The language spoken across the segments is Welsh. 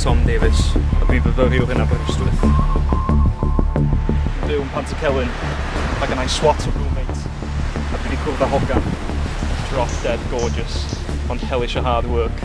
Tom Davies, a dwi'n fyfyriwr yn Aberystwyth. Dwi'n byw yn Pant y Celyn, ac yna'n swat o roommate, a dwi wedi cwrdd â hogan. Drop dead gorgeous, ond hellish a hard work.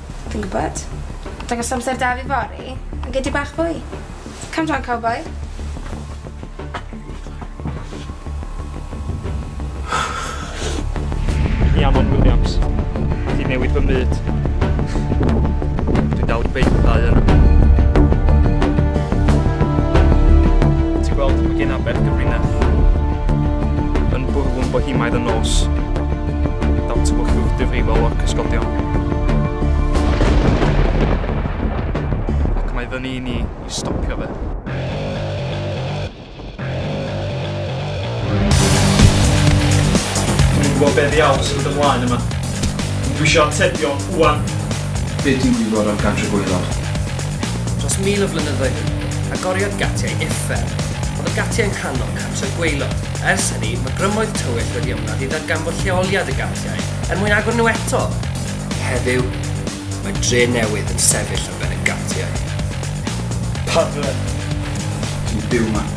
Fi'n gwbod. Dangos amser da fi fory, a gei di bach fwy. Come down cowboi. Rhiannon Williams. Ti newid fy myd. Dwi'n dal i beithau yn. Ti'n gweld, mae gen aber gyfrinach. Yn bwrw'n bohimaidd y nos. Daw tywyllwch difrifol o'r cysgodion. Ac mae fyny i ni i stopio fe. Dwi'n gwybod beth i aws yn ymlaen yma. Dwi eisiau atebion, Iwan. Be ti'n gwybod am Gantry Gwaelod? Dros mil o flynyddoedd yn ôl, agoriodd gatiau uffern. Oedd y gatiau'n nghanol Cantry Gwaelod. Ers hynny, mae grymoedd tywyll wedi ymladd i ddarganfod lleoliad y galliau er mwyn agor nhw eto. Heddiw, mae dre newydd yn sefyll ar ben y galliau. Pablo, dwi'n byw yma.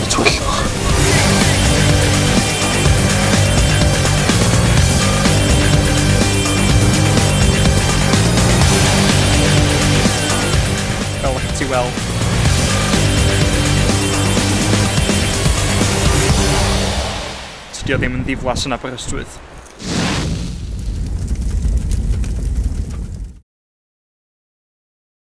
Twyllwch. Fel ych ti weld, Tydi o ddim yn ddiflas yn Aberystwyth.